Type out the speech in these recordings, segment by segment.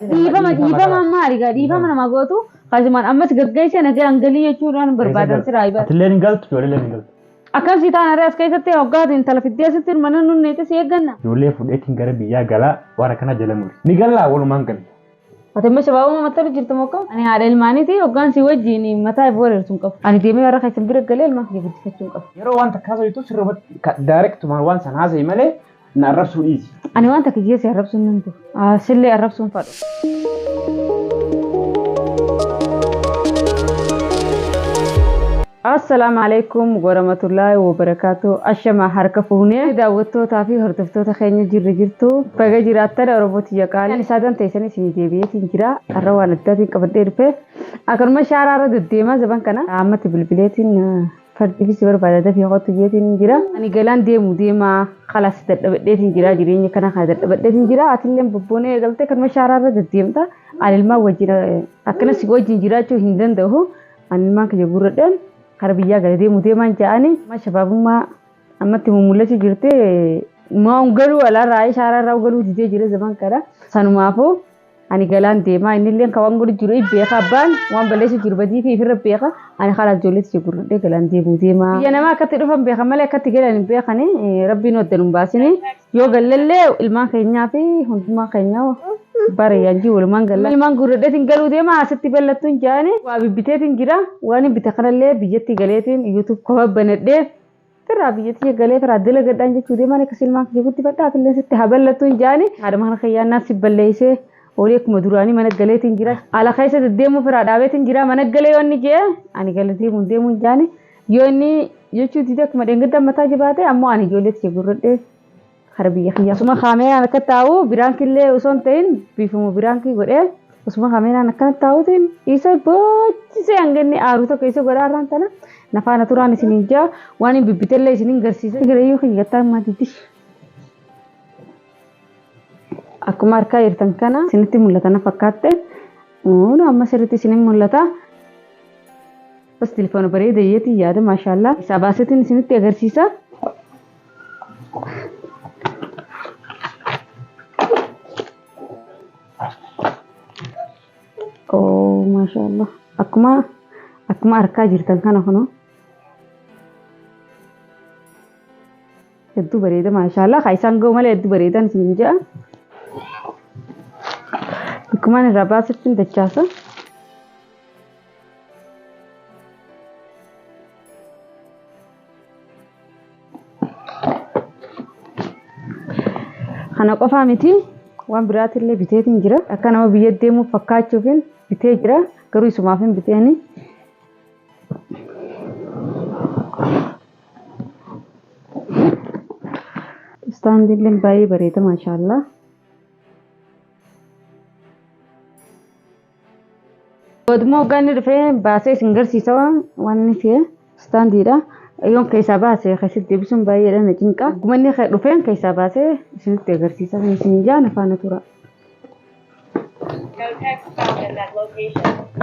Dhiifama dhiifama amma arigaa dhiifama namaa gootu kaasumaan ammas gaggeessa nagaan galii jechuudhaan barbaadan siraa ibada. Atillee hin galtu ijoollee hin galtu. Akkam si taana irraa as keessatti hoggaatu intala fiddee asitti hirmanna nun neeti si eegganna. Ijoollee fudheetiin gara biyyaa galaa warra kana jala muri. Ni gallaa walumaan galla. Ati amma shabaabuma mattala jirtu mokka. Ani haadha ilmaaniiti hoggaan si wajjin mataa ifu wareertu hin qabu. Ani deemee warra keessan bira galee ilmaan kiyya guddifachuu hin qabu. Yeroo waan takkaa soyitu sirrumatti direct waan san haasa'i malee Na arrabsuu dhiisi. Ani waan takka jee si arrabsuun nan ture. Ah, Sillee arrabsuun fadhu. Assalaamu alaikum warahmatullaahi wabarakaatu. Ashama harka fuunee daawwattootaa fi hordoftoota keenya jirri jirtu. Baga jiraattan Oromoo tiyya qaalii. Ani saadaan teessanii isin deebi'eetiin jira. Har'a waan addaatiin qabadhee dhufe. Akkanuma shaaraarra deddeemaa zaban kana. Ammatti bilbileetiin Fardifi si barbaada dafii kottu jeetiin jira. Ani galaan deemu deemaa kalaas dadhabadheetiin jira jireenya kana kana dadhabadheetiin jira atilleen bobboonee eegaltee kanuma shaaraa irra deddeemta ani ilmaan wajjin akkana si wajjin jiraachuu hin danda'u ani ilmaan kiyya gurradheen kara biyyaa gala deemu deemaan ja'anii amma shabaabummaa ammatti mummul'achuu jirti maa ungaluu alaarraa shaaraa irraa ungaluu didee jira zaman kana sanumaafuu ani galaan deemaa inni illee kan waan godhu jiru in beeka abbaan waan balleessu jiru badii fi ifirra beeka ani karaa ijoolleetti si gurguddee galaan deemuu deemaa. Biyya namaa akkatti dhufan beekan malee akkatti galan hin beekani rabbiin wadda nun baasini yoo gallallee ilmaan keenyaa fi hundumaa keenya bara yaanjii walumaan galla. Ilmaan gurguddeetiin galuu deemaa asitti ballattuun jaani waa bibbiteetiin jira waan hin bite kanallee biyyatti galeetiin yuutuub kofa banadhee Tiraa biyya tiyya galee tiraa dalagadhaan jechuu deemaan akka silmaan kiyya guddifadhaa atillee sitti haa ballattu hin jaani. Haadha mana kiyyaa naan si balleessee olii akkuma duraanii mana galeetti hin jira. Ala keessa deddeemuu firaa dhaabeetti hin jira mana galee yoo inni jee ani gala deemuu hin deemuu hin jaani. Yoo inni jechuu didee akkuma dheengaddaa mataa jabaatee ammoo ani ijoollee tiyya gurradhee Kara biyya kiyyaa. Osuma kaameeraan akka taa'u biraankillee osoo hin ta'in biifuma biraankii godhee osuma kaameeraan akkana taa'uutiin isa boochisee hanga inni aaru tokko isa godhaa irraan tana na faana turaan isin hin jaa waan hin bibbitellee isin hin garsiisa. Girayyuu kiyya gattaa maatiitti. Akkuma harkaa jirtan kana isinitti mul'ata na fakkaatte. Uun amma sirriitti isin hin mul'ata. Bas telefoona bareeda iyyeetiin yaada maashaallah. Isaa baasetiin isinitti agarsiisa. Oo maashaallah akkuma akkuma arkaa jirtan kana kunoo hedduu bareeda maashaallah haa isaan ga'u malee hedduu bareedan isin ja'a akkumaan irraa baasittiin dachaasa Kana qofaa miti waan biraatillee biteetiin jira. Akka nama biyya deemuu fakkaachuufin bitee jira. Garuu isumaaf hin biteeni. Istaandiillee baay'ee bareeda maashaallah. Godmoo hoggaanni dhufee baasee isin garsiisa wanni kee istaandiidha. Yoon keessaa baase keessatti deebisuun baay'eedha na cinqa. Akkuma inni dhufeen keessaa baasee isinitti agarsiisa. Kan isin ijaa na faana tura. No text found at that location.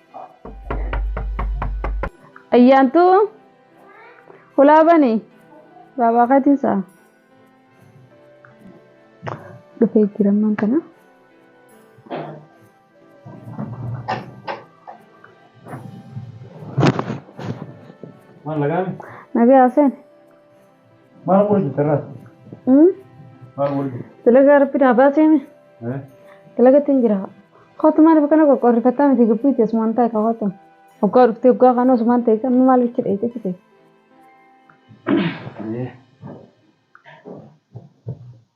Ayyaantuu hulaa bani baabaa keetiin saa. Dhufee jirammaan kana. Maal lagaan? Nagaa Hussein. Maal godhu jirta irraa? Maal godhu jirta? Dalagaa rabbi naa baaseemi. Dalagatti hin jira. Kootu maaliif akkana qoqqoorrifattaa miti gabbiitti asumaan taa'e ka kootu. Hoggaa dhuftee hoggaa kaanuu asumaan ta'e kan maal bicha dheeyte fite.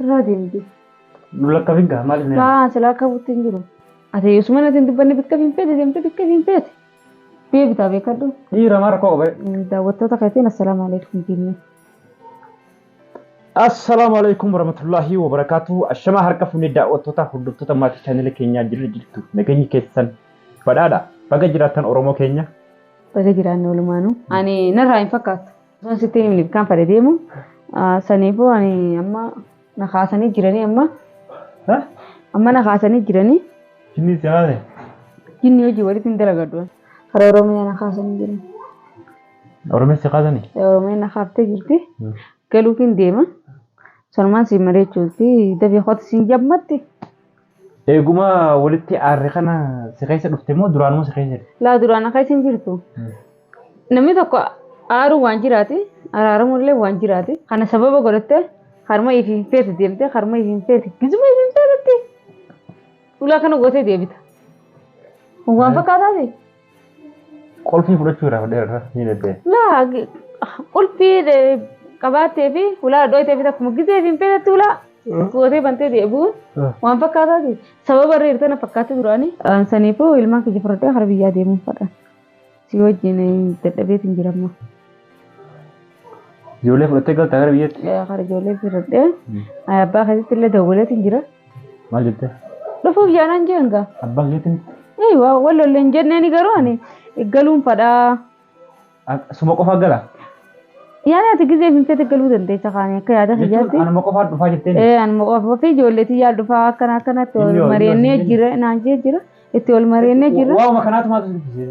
Irraa deemti. Nu lakkafin gaa maaliif na Baa si lakkabutti hin jiru. Ati yosuma natti hin dubbanne bikka hin feete deemte bikka hin feete. Deebitaa beekadhu. dhiira maa rakkoo qaba. Daawwattoota keetiin assalaamu alaikum jennee. Assalaamu alaikum warahmatullahi wabarakatuh. Ashamaa harka fuunee daawwattoota hordoftoota maatii chaanela keenyaa jirra jirtu. Nageenyi keessan badhaadha. Baga jiraattan Oromoo keenya. Baga jiraanne walumaanuu. Ani narraa hin fakkaattu. Osoo sitti hin himne kan fedhe deemu ah, saniifuu ani amma na kaasanii jiranii amma Ha? amma na kaasanii jiranii Jinni si haase. jinni hojii walitti hin dalagadhu. Kara Oromiyaa na kaasanii jiran. Oromiyaa si kaasanii? Oromiyaa na kaaftee jirti. Hmm. Galuufiin deema. Sanumaan siin mari'achuuti. Dafii kooti siin jammatti. Eeguma walitti aarre kana si keessa dhufte moo duraanuma si keessa jirti? Laa duraan akka isin jirtu. Namni tokko aaruu waan jiraati, araaramuun illee waan jiraati. Kana sababa godhattee harma ifi hin feete deemtee harma ifi hin feete gizuma ifi hin feetetti ulaa kana gootee deebita. Kun waan fakkaataati? Qolfii fudhachuu irraa fudhee irraa ni deebi'e. Laa qulfii qabaattee fi ulaa dhooytee fi takkuma gisee fi hin feetetti ulaa gootee bantee deebi'uun waan fakkaataati. Sababa irra jirtan na fakkaatti duraanii. Saniifuu ilmaan kiyya fudhadhee gara biyyaa deemuun fadha. Si wajjin dadhabeetiin jiramma. Ijoollee fudhattee galtaa gara biyyatti. Kan ijoollee firadhee abbaa keessatti illee dawwaleetiin jira. Maal jettee? Dhufuuf yaalan jeen gaa. Abbaa keetiin Ee waa wal lolle hin jenneeni garuu ani galuun fadhaa. suma qofaa gala. Yaani ati gizee hin fete galuu dandeessa kaanii akka yaada Jechuun kiyyaatti. anuma qofaa dhufaa jettee. Ee anuma qofa fi ijoolleetiin yaal dhufaa akkana akkanatti Inni wal yoo- inni mari'annee yoo- jira naan jee jira itti wal mari'annee jira. Waa'uma kanaatu maal sitti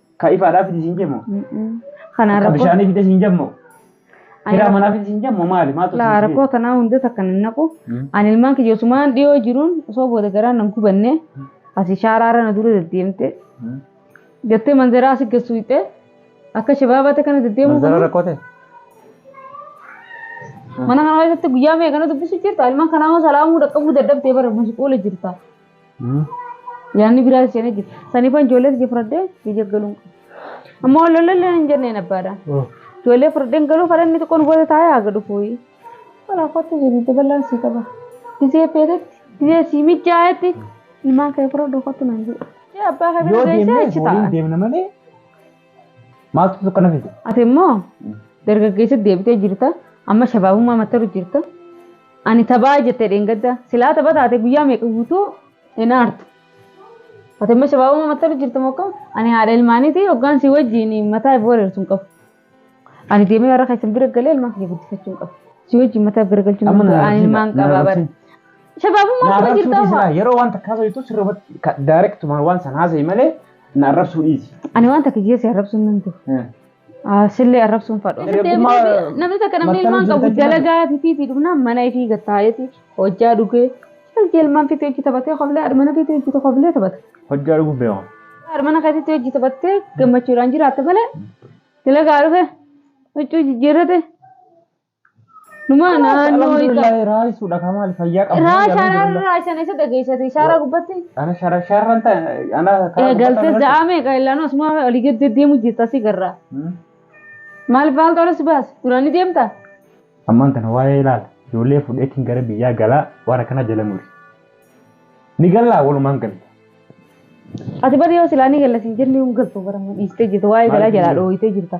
Ka ifaadhaa fidi siin jemmoo? Kanaan Ka rakkoo bishaanii fide siin jemmoo? Ani Hiraa rakkoo- manaa fide siin jemmoo maali? Maaltu laa siin rakkoo tanaa hunda takka nan naqu. Mm. Ani ilmaan kiyya osumaan dhiyoo jiruun osoo booda garaan nan gubanne asi shaaraarra na dura deddeemte Mm. jettee manzaraa asi geessu hitte akka shabaabaatti kana deddeemuu Manzara kun rakkoo ta'e? mana kana keessatti guyyaa meeqa na dubbisu jirta ilmaan kanaa hoo salaamuu dhaqqabuu dadhabdee bara musquula jirta. Yaanni biraa isheen jira. Saniifan ijoollee tiyya fudhadhee biyya galuun qaba. Ammoo lolollee hin jenneen abbaadha. Ijoollee fudhadheen galuu fadha inni xiqqoon booda taa'ee haga dhufuu. Walaa kottu jedhi daballaan sii qaba. Gizee feetetti gizee sii mijaa'etti ilmaan kee fudhadhu kottu naan jedhi. Abbaa kee Yoo bira geessee deemne achi waliin taa'a. deemna malee Maaltu si kana fide? Ati immoo dargaggeessa deebitee jirta. Amma shabaabummaa mattaru jirta. Ani tabaa jettee dheengadda. Silaa taba taate guyyaa meeqa guutuu hin aartu. Ati immoo shabaabummaa mattaru jirta mokka. Ani haadha ilmaaniiti hoggaan si wajjin mataa ifu wareersu hin qabu. Ani deemee warra keessan bira galee ilmaan kiyya guddifachuu hin qabu. Si wajjin mataa bira galchuu hin Amma qabu. na Ani ilmaan arrabsiin- na qabaa bara. arrabsiin. Shabaabummaa Na taba arrabsuu jirta dhiisi amma. laa. Yeroo waan takka haasoftu sirriitti direct waan san haasa'e malee Na arrabsuu dhiisi. Ani waan takka jee si arrabsuun nan ture. Eh. Ah, Sillee arrabsuun fadhu. Namni Dargaggummaa- deebi'ee- Namni takka namni mattara ilmaan qabu jirtatti dalagaa fiitii dhumnaan mana ifii gattaa'eeti hojjaa dhugee hojii ilmaan fiitii hojii taphatee koflee haadha mana fiitii hojii koflee taphata. Hojjaa dhuguuf beeku. Haadha mana keessatti hojii taphattee gammachuudhaan jiraatte malee dalagaa dhufe huccuu jijjiirrate Numaa naannoo isa. Alhamdulillah raayisuudha kan maali fayyaa qabdu. Raa shaaraan raa isaan isa dhageessate shaaraa gubbatti. Ana shara sharan ta ana karaa Ee galtee gubbata za'aa meeqa illaan osuma olii gad deddeemu jirta si garraa. irratti. Maal faaltu alas baas duraan ni deemta. Ammaan tana waa'ee ilaala. Ijoollee fudheetiin gara biyyaa galaa waan akkana jala muri. Ni gallaa walumaan galla. Ati bari yoo silaa ni gallas hin jenne hin galtu bara dhiistee jirta waa'ee galaa jalaa dhooyitee jirta.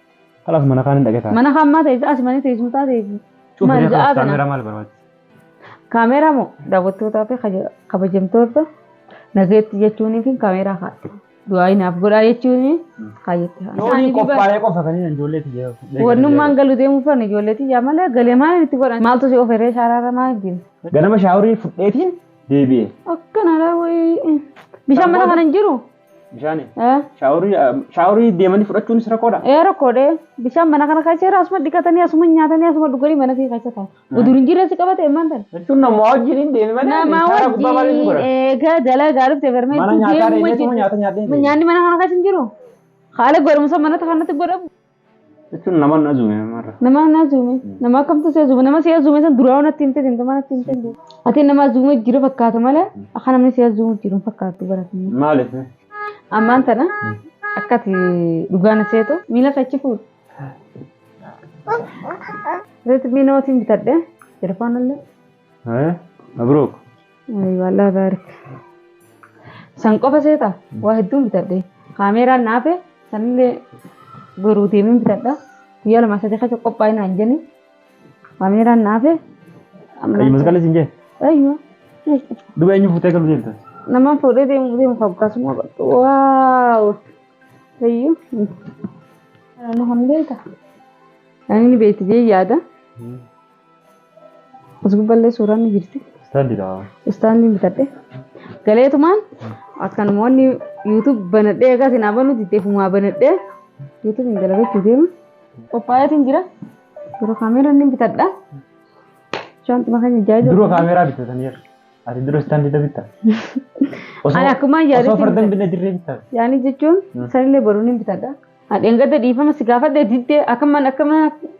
Kalaas mana kaan hin dhaqetaa. Mana kaan maa teessa as mana teessuu taa teessu. Maal ja'aa kana. Kaameeraa maal barbaachisa? Kaameeraa moo daawwattootaa fi kabajamtoota nageetti jechuunii fi kaameeraa kaadha. Du'aayi naaf godhaa jechuun kaayyetti haala. Loonii qophaa'ee qofa kan hin ijoollee tiyya. Wannummaan galu deemuu fan ijoollee tiyya malee galee maal itti godhan maaltu si oferee shaaraarra maal ittiin. Ganama shaaworii fudheetiin deebi'e. Akkanaadha wayii. Bishaan mana kana hin jiru. Bishaani. Eh, Shaaworii shaaworii deemanii fudhachuunis rakkoodha. ee rakkoodhe bishaan mana kana keessa jira asuma dhiqatanii asuma nyaatanii asuma dhuganii mana kee keessa taa'u. Udur hin jirre si qabate immaan tan. Jechuun namaa wajjin hin deeme malee Nama shaaraa gubbaa malee ni wajjin godha. eegaa dalagaa dhufte Mana barmeetti nyaataa deemuu deemee wajjin. nyaata nyaatee hin deemu. Nyaanni mana kana keessa hin jiru. Haala gorumsa manota kanatti godhamu. Jechuun nama na zuume marra. Nama na zuume. Nama akkamtu si zuume. Nama si zuume san duraa natti himte himte maal natti himte himte. Ati nama zuume jira fakkaata malee akka namni si zuume jiru fakkaatu baratanii. Maaliif? Ammaan tana akkati dhugaa na seetu miila kachi fuudhu. Reetmii nootiin bitadhe telefoonallee. Haya, mabruuk. Aywa Allah baarik. San qofa seeta waa hedduun bitadhe. Kaameeraan naafe sanillee garuu deemin bitadha. Guyyaa lama sadii keessa qophaa'e naan jedhani. Kaameeraan naafe. Ayyu masqalli siin jee. Aywa. Duba eenyu fuutee galu deemta? Namaan fuudhee deemu deemu hoggaasuma qabdu. Waaw. Ayyu. Nama hambeeta. Ani ni beekti jee yaada. As gubballee suuraan ni jirti. Istaandidha. Istaandiin bitadhe. Galeetumaan akka namoonni YouTube banadhee egaa isin abanuu diddeefumaa banadhee YouTube hin dalagachuu deema. Qophaa'eetiin jira. Dura kaameeraa ni bitadha. Shaanxuma keenya jaajaa. Dura kaameeraa bitataniiru. Ati dura istaandidha bitta. Ani akkuma yaadatti Osoo fardan bitadhe. binna dirree bitta. Yaanii jechuun sanillee baruu ni bitadha. Dheengadda dhiifama si gaafadhe diddee akkaman akkaman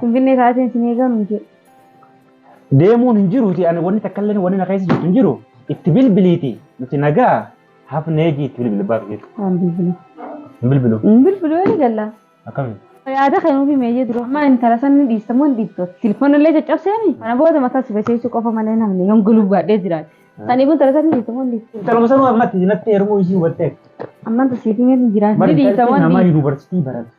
Finfinnee taateen sin eegaa nuun jedhu. Deemuun hin jiruuti ani wanni takka illee wanni na keessa jirtu hin jiru itti bilbiliiti nuti nagaa hafnee jii itti bilbila baaf jiru. Waan bilbilu. Hin bilbilu Hin bilbilu yoo ni galla. akkami? Yaada kennuufi meeyyee dura. Amma intala san ni dhiista moo hin dhiiftu? Telefoonni illee caccabseemi. Kana booda mataa si basheessuu qofa malee namni hin gulubbaadhee jiraate. Saniif intala san ni dhiista moo hin dhiiftu? Intaluma sanuu ammatti natti heerumuu isii hubattee. Amma tasiifi meetu jiraate. Ni dhiista moo hin nama dhiiftu? yuunivarsiitii baratu.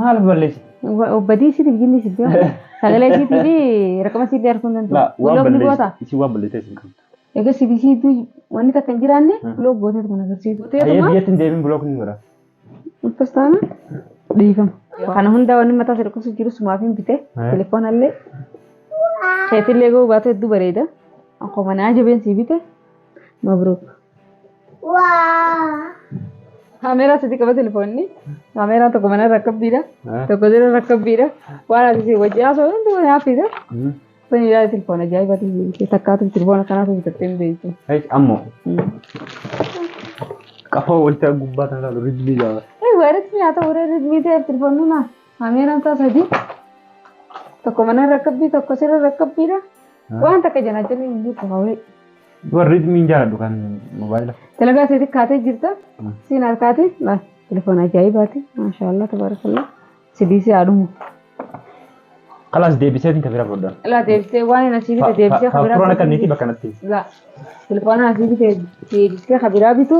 Maal balleessi? Badii isiitiif jinni isitti yoo sagalee isiitii fi rakkama isiitti arguu hin danda'u. Block ni goota. Isin waan balleessee isin qabdu. Egaa siif isiitu wanni takka hin jiraanne block gootee tokko agarsiisu. Ayyee biyyatti hin deebiin block ni godha. Akkas taana dhiifama. Kana hunda wanni mataa sadii kuusu jiru sumaaf hin bite. Telefoona illee keetillee gahuu baatu hedduu bareeda. Akkuma naa jabeen sii bite. Mabruuk. Kaameeraa sadi qaba telefoonni. Kaameeraan tokko mana rakkabbiidha. Tokko jala rakkabbiidha. Waan ati si wajjin haasoo hundi wani hafiidha. Kun ilaalee telefoona ajaa'iba ta'e. Takkaatu telefoona kanaatu bitattee hin beektu. Ammoo qafoo wayita gubbaa kan ilaalu rizbii jaala. Egaa rizbii haa ta'u ree rizbii ta'eef telefoonni naa. Kaameeraan isaa sadi. Tokko mana rakkabbii tokko sirra rakkabbiidha. Waan takka jalaa jalli hin jirtu hawee. Dubar ritmiin jaaladhu kan mobaayila. Dalagaa seeti kaatee jirta. Mm. Siin harkaati. Maal? Telefoona ajaa'ibaati. Maashaallah tabarakallah. Sidii si haadhumu. Kalaas deebiseetiin kan bira fudhan. Ilaa deebisee waan hin asiifite deebisee kabira. Faafuroon akka inni bakka natti. Laa. Telefoona asii bitee deebistee kan biraa bitu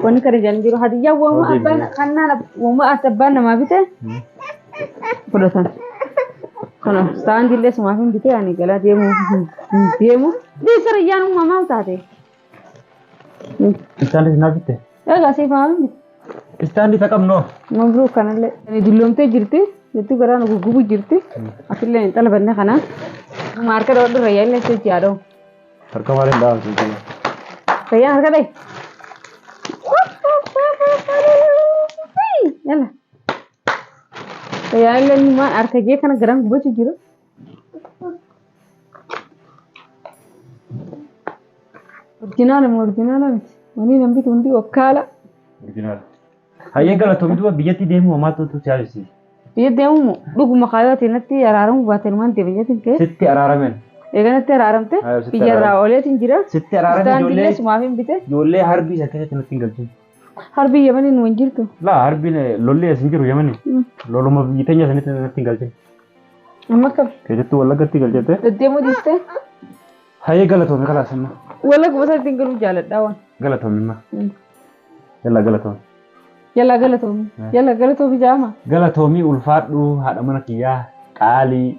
wanni kana jedhan jiru hadiyyaa wama abbaan kannaan wama as abbaan namaa bite fudhatan. Kanaaf saantii illee sumaaf hin bitee ani galaa deemu hin deemu. Deessara iyyaan uumamaa taate. Isaanis na bitte. Egaa siif haa miti. Istaandii isa qabnoo. Mabruuk kanallee. Ani dulloomtee jirti. Jettuu garaa nu guggubu jirti. Atillee hin xalabanne kana. Dhuma harka dhawadhu rayyaa illee sochii haa dhawu. Harka maal hin dhahamtu jechuudha. Rayyaan harka dhayi. Yalla. Rayyaan illee numaan harka jee kana garaan gubachuu jiru. Orjinaala moo orjinaala miti? Wanii nan bitu hundi okkaala. Orjinaala. Hayyee galatoomi duuba biyyatti deemuu homaatu utuu si yaadisiise. Biyya deemuu moo dhuguma kaayoo ati natti araaramuu baate numaan deema jetin kee. Sitti araaramen. Eega natti araaramte Ayoo, sitti biyya irraa araaram. ooleetiin jira. Sitti araarame Istaandiillee ijoollee sumaaf hin bite. ijoollee harbii san keessatti natti hin galchin. Harbi Yemanii nu hin jirtu. Laa harbiin lolli as hin jiru yamani. Loluma biyyi teenya sanitti natti hin galchin. Amma kam? Keessattuu wallaggatti galchite. Deddeemuu dhiistee? Hayyee galatoomi kalaas amma. Wallaguma sanatti hin galuu jaaladhaa waan. Galatoomi amma. Yallaa galatoomi. Yallaa galatoomi. Yallaa galatoomi jaama. Galatoomi ulfaadhu haadha mana kiyyaa qaalii.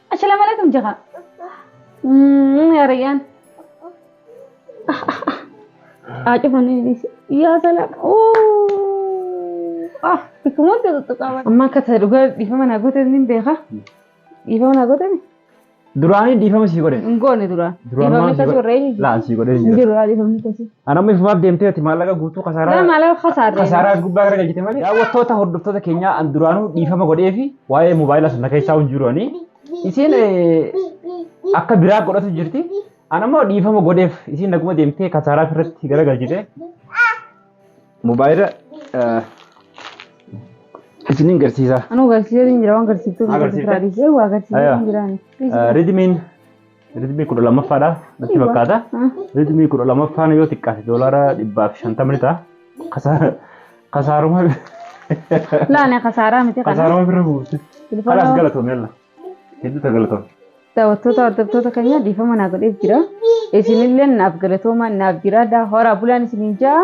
Assalaamu alaikum jaka. Yaa rayyaan. Haa cufanii dhiise. Yaa salaam. Ah bikka maaltu tuttuqaa. Amma akka ta'e dhugaa dhiifama naa goote ni beeka. Dhiifama naa goote ni. Duraanii dhiifama sii godhe. Hin goone duraan. Duraan Dhiifamni maal sii akkasii godhe? warra eenyu? Laa sii godhe hin Hin jiru. jiru haa dhiifamni akkasii. Ana amma ifumaaf deemtee ati maallaqa guutuu Yaa kasaaraa maallaqa kasaarree. kasaaraa as gubbaa gara galchite malee. Daawwattoota hordoftoota keenyaa an duraanuu dhiifama godhee fi waa'ee moobaayilaa sun na keessaa hin jiru ani. Isiin eh, akka biraa godhatu jirti. An ammoo dhiifama godheef isiin naguma deemtee kasaaraa irratti gara galchite. Moobaayila eh, isiniin garsiisa. Anuu garsiisee hin jira waan garsiiftuu Haa, garsiifte? garsiisee waa garsiisee Ayaa. hin jiraan. Eh, Ridimiin Ritmii kudha lammaffaadha natti fakkaata. Ritmii kudha lammaffaan yoo xiqqaate doolaara dhibbaaf shantama ni ta'a. Kasaara kasaaruma Laane kasaaraa miti kana. kasaaruma bira buufte. Kalaas Bilbila galatoome yalla. Hedduu ta galatoome. daawwattoota hordoftoota keenya dhiifama naa godheef jira. Isinillee naaf galatoomaa naaf jiraadha. Horaa bulaan isiniin ja'a.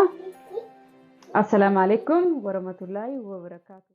Assalaamu alaikum warahmatullaahi wabarakaatu.